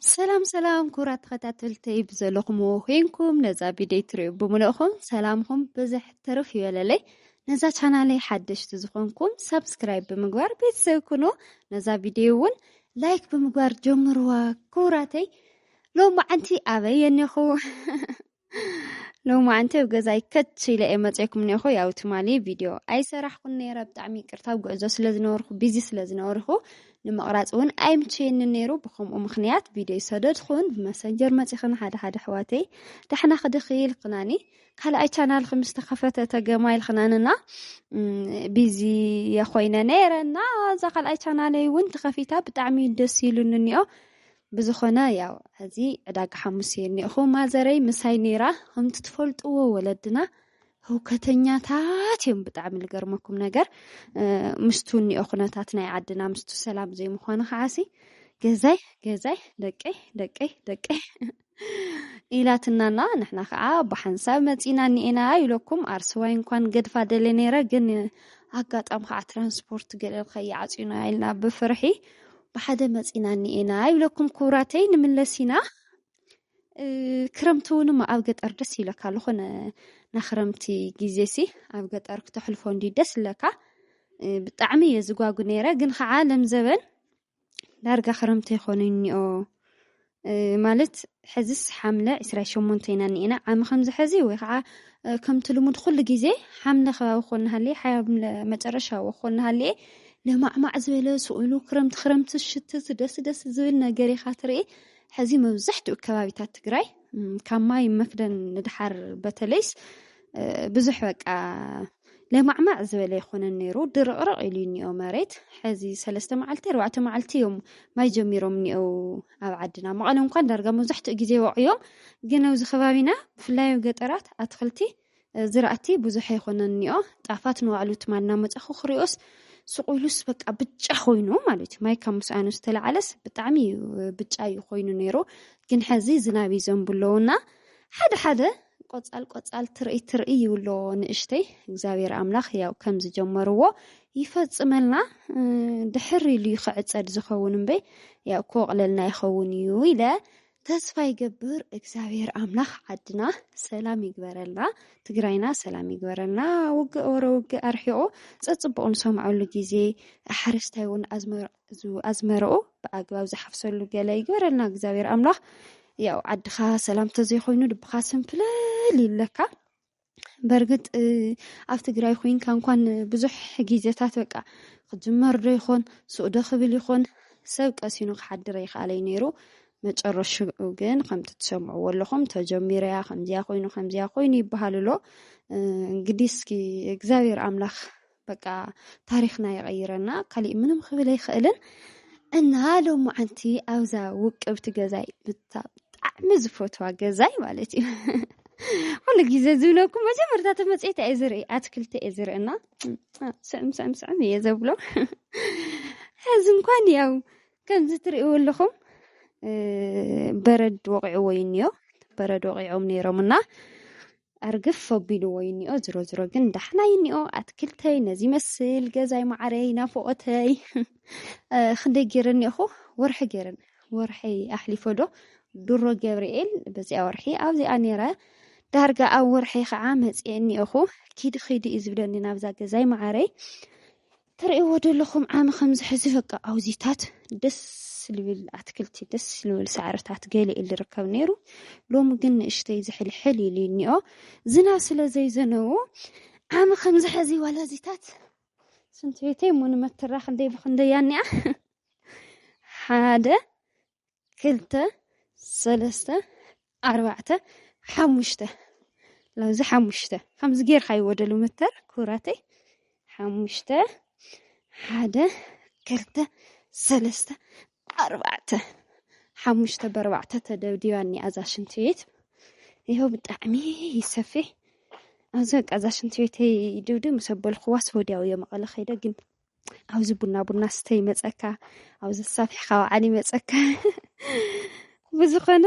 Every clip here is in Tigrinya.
ሰላም ሰላም ክቡራት ተኸታተልተይ ብዘለኹምዎ ኮይንኩም ነዛ ቪድዮ ትሪኡ ብምልእኹም ሰላምኹም ብዝሕ ትርፍ ይበለለይ ነዛ ቻናለይ ሓደሽቲ ዝኾንኩም ሳብስክራይብ ብምግባር ቤተሰብ ኩኑ ነዛ ቪድዮ እውን ላይክ ብምግባር ጀምርዋ ክቡራተይ ሎሚ መዓንቲ ኣበይ የኔኹ ሎሚ ኣንቲ ኣብ ገዛይ ከች ኢለ እየ መፅኩም ኒኹ ያው ትማሊ ቪድዮ ኣይሰራሕኩን ነይረ ብጣዕሚ ይቅርታ ኣብ ጉዕዞ ስለ ዝነበርኩ ቢዚ ስለ ዝነበርኩ ንምቕራፅ እውን ኣይምቸየኒ ነይሩ ብከምኡ ምክንያት ቪድዮ ይሰደድኩን ብመሰንጀር መፂኽን ሓደ ሓደ ኣሕዋተይ ዳሕና ክድኺ ኢልክናኒ ካልኣይ ቻናል ከም ዝተኸፈተ ተገማ ኢልክናንና ቢዚ የኮይነ ነይረ እና እዛ ካልኣይ ቻናለይ እውን ተኸፊታ ብጣዕሚ ደስ ኢሉኒ እኒኦ ብዝኾነ ያው ሕዚ ዕዳጋ ሓሙስ እየ እኒኦኹ ማዘረይ ምሳይ ነይራ ከምቲ ትፈልጥዎ ወለድና ህውከተኛታት እዮም ብጣዕሚ ዝገርመኩም ነገር ምስቱ እኒኦ ኩነታት ናይ ዓድና ምስቱ ሰላም ዘይምዃኑ ከዓሲ ገዛይ ገዛይ ደቀይ ደቀይ ደቀይ ኢላትናና ንሕና ከዓ ብሓንሳብ መፂና እኒኤና ኢለኩም ኣርስዋይ እንኳን ገድፋ ደለ ነይረ ግን ኣጋጣሚ ከዓ ትራንስፖርት ገለል ከይዓፅዩና ኢልና ብፍርሒ ብሓደ መጺና እኒኤና ይብለኩም ኩቡራተይ ንምለስ ኢና ክረምቲ እውን ኣብ ገጠር ደስ ይብለካ ዝኾነ ናክረምቲ ግዜ ሲ ኣብ ገጠር ክተሕልፎ እንዲ ደስ ይብለካ ብጣዕሚ እየ ዝጓጉ ነይረ ግን ከዓ ለምዘበን ዳርጋ ክረምቲ ይኮነ እኒኦ ማለት ሕዝስ ሓምለ ዕስራይ ሸሞንተ ኢና እኒኤና ዓሚ ከምዚ ሕዚ ወይ ከዓ ከምቲ ልሙድ ኩሉ ግዜ ሓምለ ከባቢ ኮን ሃልየ ሓምለ መጨረሻ ኮን ሃልየ ለማዕማዕ ዝበለ ስእሉ ክረምቲ ክረምቲ ሽትት ደስ ደስ ዝብል ነገር ኢኻ ትርኢ ሕዚ መብዛሕትኡ ከባቢታት ትግራይ ካብ ማይ መክደን ንድሓር በተለይስ ብዙሕ በቃ ለማዕማዕ ዝበለ ኣይኮነን ነይሩ፣ ድርቕርቕ ኢሉ እዩ እኒኦ መሬት። ሕዚ ሰለስተ መዓልቲ ኣርባዕተ መዓልቲ እዮም ማይ ጀሚሮም እኒኦ ኣብ ዓድና። መቐለ እንኳን ዳርጋ መብዛሕትኡ ግዜ ወቕዮም፣ ግን ኣብዚ ከባቢና ብፍላይ ኣብ ገጠራት ኣትክልቲ ዝራእቲ ብዙሕ ኣይኮነን እኒኦ። ጣፋት ንባዕሉ ትማል እናመፃኹ ክሪኦስ ስቑ ኢሉስ በቃ ብጫ ኮይኑ ማለት እዩ። ማይ ካብ ምስኣኑ ዝተላዓለስ ብጣዕሚ እዩ ብጫ እዩ ኮይኑ ነይሩ። ግን ሕዚ ዝናብ ይዘንቡ ኣለዉ እና ሓደ ሓደ ቆጻል ቆጻል ትርእይ ትርእይ ይብሎ ንእሽተይ እግዚኣብሔር ኣምላኽ ያው ከም ዝጀመርዎ ይፈጽመልና ድሕር ኢሉ ይክዕጸድ ዝኸውን እምበይ ያው ክወቕለልና ይኸውን እዩ ኢለ ተስፋ ይገብር እግዚኣብሔር ኣምላኽ ዓድና ሰላም ይግበረልና ትግራይና ሰላም ይግበረልና ውግእ ወረ ውግእ ኣርሒቑ ፀፅቡቕ ንሰምዐሉ ግዜ ሓረስታይ እውን ኣዝመር እዚ ኣዝመረኡ ብኣግባብ ዝሓፍሰሉ ገለ ይግበረልና እግዚኣብሔር ኣምላኽ ያው ዓድኻ ሰላም ተዘይኮይኑ ልብኻ ስንፍለል ይብለካ በርግጥ ኣብ ትግራይ ኮይንካ እንኳን ብዙሕ ግዜታት በቃ ክጅመር ዶ ይኾን ስኡዶ ክብል ይኾን ሰብ ቀሲኑ ክሓድረ ይኽኣለይ ነይሩ መጨረሽኡ ግን ከምቲ ትሰምዕዎ ኣለኹም ተጀሚረያ ከምዚያ ኮይኑ ከምዚያ ኮይኑ ይበሃል ኣሎ እንግዲህ እስኪ እግዚኣብሔር ኣምላኽ በቃ ታሪክና ይቐይረና ካሊእ ምንም ክብል ኣይኽእልን እና ሎማዓንቲ ኣብዛ ውቅብቲ ገዛይ ብጣዕሚ ዝፈትዋ ገዛይ ማለት እዩ ኩሉ ግዜ ዝብለኩም መጀመርታ ተመፅታ እየ ዝርኢ ኣትክልቲ እየ ዝርእና ስዕም ስዕም ስዕም እየ ዘብሎ ሕዚ እንኳን ያው ከምዚ ትርእይዎ ኣለኹም በረድ ወቂዕዎ እዩ እኒኦ በረድ ወቂዖም ነይሮም እና ኣርግፍ ኣቢልዎ እዩ እኒኦ ዝሮ ዝሮ ግን ዳሕና እዩ እኒኦ ኣትክልተይ ነዚ ይመስል ገዛይ ማዕረይ ናፍቆተይ ክንደይ ገይረ እኒኦኹ ወርሒ ገይረን ወርሒ ኣሕሊፎ ዶ ድሮ ገብርኤል በዚኣ ወርሒ ኣብዚኣ ነይረ ዳርጋ ኣብ ወርሒ ከዓ መፅኤ እኒኦኹ ኪዲ ኪዲ እዩ ዝብለኒ ናብዛ ገዛይ ማዕረይ ትርእይዎ ዶ ኣለኹም ዓሚ ከምዚ ሕዚ በቃ ኣውዚታት ደስ ልብል ኣትክልቲ ደስ ልብል ሳዕርታት ገለ ኢሉ ርከብ ነይሩ ሎሚ ግን ንእሽተይ ዝሕልሕል ኢሉ እኒኦ ዝናብ ስለ ዘይዘነቦ ዓሚ ከምዚ ሕዚ ዋላዚታት ስንት ቤተይ እሞ ንመትራ ክንደይ ብክንደይ እያ እኒኣ ሓደ ክልተ ሰለስተ ኣርባዕተ ሓሙሽተ ላብዚ ሓሙሽተ ከምዚ ጌርካ ይወደሉ ምተር ኩራተይ ሓሙሽተ ሓደ ክልተ ሰለስተ ኣርባዕተ ሓሙሽተ በርባዕተ ተደብዲባ እኒኣ እዛ ሽንቲ ቤት ይኸው ብጣዕሚ ይሰፊሕ ኣብዚ በቃ እዛ ሽንቲ ቤተይ ድብድብ ምስ ኣበልኩዋስ ወዲያው እየ መቐለ ከይደ ግን ኣብዚ ቡና ቡና ስተ ይመፀካ ኣብዚ ሳፊሕካ ውዓል ይመፀካ ብዝኾነ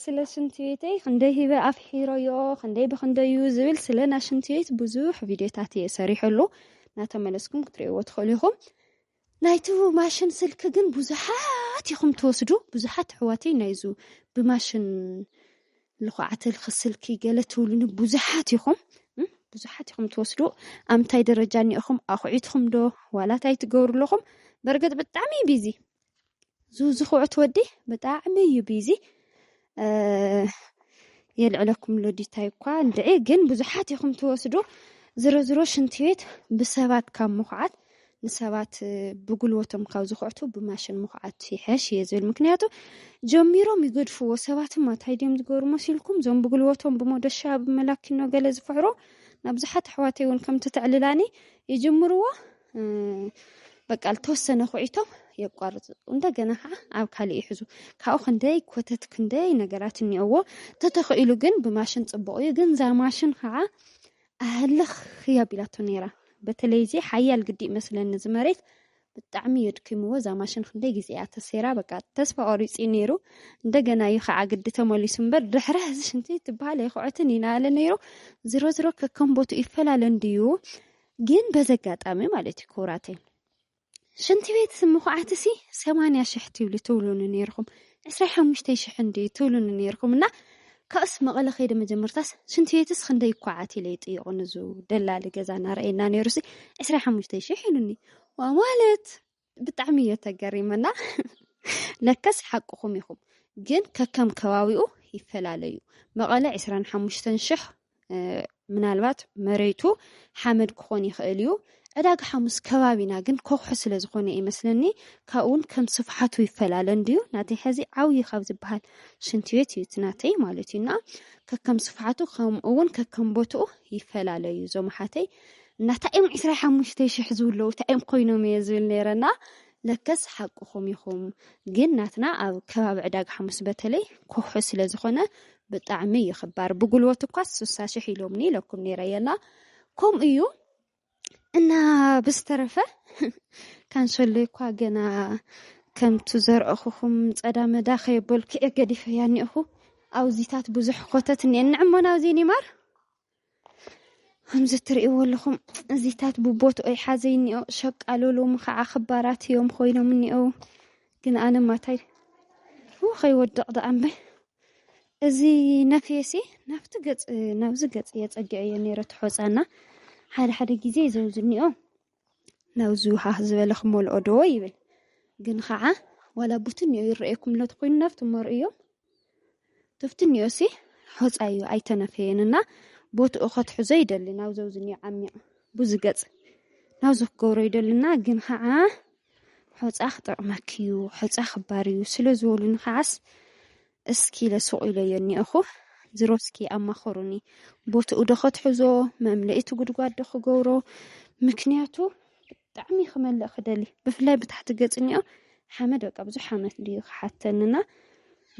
ስለ ሽንቲ ቤተይ ክንደይ ሂበ ኣፍሒሮዮ ክንደይ ብክንደዩ ዝብል ስለ ና ሽንቲ ቤት ብዙሕ ቪድዮታት እየ ሰሪሐሉ እናተመለስኩም ክትሪእዎ ትኽእሉ ኢኹም ናይቲ ማሽን ስልኪ ግን ብዙሓት ኢኹም ትወስዱ ብዙሓት ኣሕዋተይ ናይዙ ብማሽን ልኹዓተ ልኽስልኪ ገለ ትብሉኒ ብዙሓት ኢኹም ብዙሓት ኢኹም ትወስዱ ኣብ ምንታይ ደረጃ እኒኦኹም ኣኹዒትኹም ዶ ዋላ እንታይ ትገብሩ ኣለኹም በርግጥ ብጣዕሚ እዩ ቢዚ ዙ ዝኹዑት ወዲ ብጣዕሚ እዩ ቢዚ የልዕለኩም ኣሎ ዲታይ እኳ እንድዒ ግን ብዙሓት ኢኹም ትወስዱ ዝሮ ዝሮ ሽንቲ ቤት ብሰባት ካብ ምኹዓት ንሰባት ብጉልበቶም ካብ ዝኹዕቱ ብማሽን ምኹዓት ይሐሽ እየ ዝብል ምክንያቱ ጀሚሮም ይገድፍዎ ሰባትማ እንታይ ድዮም ዝገብሩ መሲልኩም እዞም ብጉልበቶም ብሞደሻ ብመላኪኖ ገለ ዝፍሕሮ ናብዙሓት ኣሕዋተይ እውን ከምቲ ተዕልላኒ ይጅምርዎ በቃ ዝተወሰነ ኩዒቶም የቋርፁ እንደገና ከዓ ኣብ ካልእ ይሕዙ ካብኡ ክንደይ ኮተት ክንደይ ነገራት እኒኦዎ ተተኽኢሉ ግን ብማሽን ፅቡቅ እዩ ግን እዛ ማሽን ከዓ ኣህልኽ እያ ኣቢላቶ ነይራ በተለይ እዚ ሓያል ግዲእ መስለኒ እዚ መሬት ብጣዕሚ የድኪምዎ እዛ ማሽን ክንደይ ግዜ እያ ተሰይራ በቃ ተስፋ ቆሪፂ ነይሩ እንደገና እዩ ከዓ ግዲ ተመሊሱ እምበር ድሕረ እዚ ሽንቲ ትበሃል ኣይክዖትን ኢና ኣለ ነይሩ ዝሮ ዝሮ ከከም ቦቱ ይፈላለ እንድዩ ግን በዚ ኣጋጣሚ ማለት እዩ ክቡራተይ ሽንቲ ቤት ምኹዓትሲ ሰማንያ ሽሕ ትብሉ ትብሉኒ ነይርኹም ዕስራ ሓሙሽተ ሽሕ እንድዩ ትብሉኒ ነይርኹም እና ካብኡስ መቐለ ከይደ መጀመርታስ ሽንቲ ቤትስ ክንደይ ይኳዓት ኢለ ይጥየቑ ንዙ ደላሊ ገዛ እናረኣየና ነይሩሲ ዕስራ ሓሙሽተ ሽሕ ኢሉኒ ዋ ማለት ብጣዕሚ እዮ ተገሪመና ለከስ ሓቅኹም ኢኹም ግን ከከም ከባቢኡ ይፈላለዩ መቐለ ዕስራን ሓሙሽተን ሽሕ ምናልባት መሬቱ ሓመድ ክኾን ይኽእል እዩ ዕዳጋ ሓሙስ ከባቢና ግን ኮክሖ ስለ ዝኾነ እዩ መስለኒ ካብኡውን ከም ስፍሓቱ ይፈላለ እንድዩ ናተይ ሕዚ ዓብዩ ካብ ዝበሃል ሽንቲ ቤት እዩ ትናተይ ማለት እዩና ከከም ስፍሓቱ ከምኡውን ከከም ቦትኡ ይፈላለዩ እዞም ሓተይ እናታ እዮም ዕስራ ሓሙሽተ ሽሕ ዝብለዉ እንታይ እዮም ኮይኖም እየ ዝብል ነይረና ለከስ ሓቅኹም ኢኹም ግን ናትና ኣብ ከባቢ ዕዳጋ ሓሙስ በተለይ ኮሑ ስለ ዝኾነ ብጣዕሚ እዩ ክባር ብጉልበት እኳ ስሳ ሽሕ ኢሎምኒ ኢለኩም ነይረ የላ ከምኡ እዩ እና ብዝተረፈ ካንሰሎ እኳ ገና ከምቱ ዘርእኹኹም ጸዳመዳ ከየበልኩ እየ ገዲፈያ እኒኦኹ ኣውዚታት ብዙሕ ኮተት እኒአን ንዕሞና ኣውዜ ኒማር ከምዚ እትርእይዎ ኣለኹም እዚታት ብቦትኦ ይሓዘ እኒኦ ሸቃሎ ሎሚ ከዓ ክባራት እዮም ኮይኖም እኒኦ ግን ኣነ ማታይ ከይወድቕ ደኣ እምበይ እዚ ነፍየሲ ናብቲ ገፅ ናብዚ ገፅ እየ ፀጊዐዮ ነይረ ትሖፃና ሓደ ሓደ ግዜ ዘውዝ እኒኦ ናብዚ ሃህ ዝበለ ክመልኦ ዶ ይብል ግን ከዓ ዋላ ቡትን እዮ ይረኣየኩም ለት ኮይኑ ናብቲ መርእዮም ትፍትን እዮ ሲ ሖፃ እዩ ኣይተነፈየን እና ቦትኡ ከትሕዞ ይደሊ ናብ ዘብዝኒ ዓሚቕ ብዙ ገፅ ናብ ዘክገብሮ ይደልና ግን ከዓ ሖፃ ክጠቕመክ እዩ ሖፃ ክባር እዩ ስለ ዝበሉኒ ከዓስ እስኪ ኢለ ሱቕ ኢለዮ እኒኤኹ። ዝሮ እስኪ ኣማኸሩኒ። ቦትኡ ዶ ከትሕዞ፣ መምለኢ እቲ ጉድጓድ ዶ ክገብሮ፣ ምክንያቱ ብጣዕሚ ክመልእ ክደሊ፣ ብፍላይ ብታሕቲ ገጽ እኒኦ ሓመድ በቃ ብዙሕ ዓመት ድዩ ክሓተንና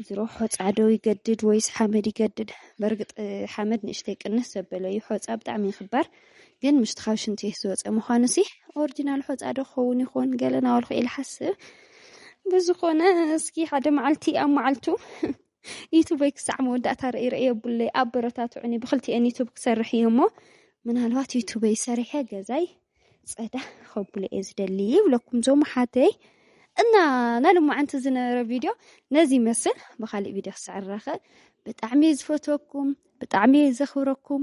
ዝሮ ሖፃ ዶ ይገድድ ወይስ ሓመድ ይገድድ? በርግጥ ሓመድ ንእሽተይ ቅንስ ዘበለ እዩ፣ ሖፃ ብጣዕሚ ይኽባር። ግን ምስቲ ካብ ሽንትቤት ዝወፀ ምዃኑሲ ኦርጂናል ሖፃ ዶ ክኸውን ይኾን ገለ ናበልኩ ኢለ ሓስብ ብዝኾነ እስኪ ሓደ መዓልቲ ኣብ መዓልቱ ዩቱበይ ክሳዕ መወዳእታ ርእይ ርእይ የብለይ ኣበረታትዑኒ ብክልቲኤን ዩቱብ ክሰርሕ እየ እሞ ምናልባት ዩቱበይ ሰሪሐ ገዛይ ፀዳ ከብሎ እየ ዝደሊ ይብለኩም ዞም ሓተይ እና ናይ ሎማዓንቲ ዝነበረ ቪድዮ ነዚ ይመስል ብካሊእ ቪድዮ ክሳዕ ንራኸብ ብጣዕሚ እየ ዝፈትወኩም ብጣዕሚ እየ ዘኽብረኩም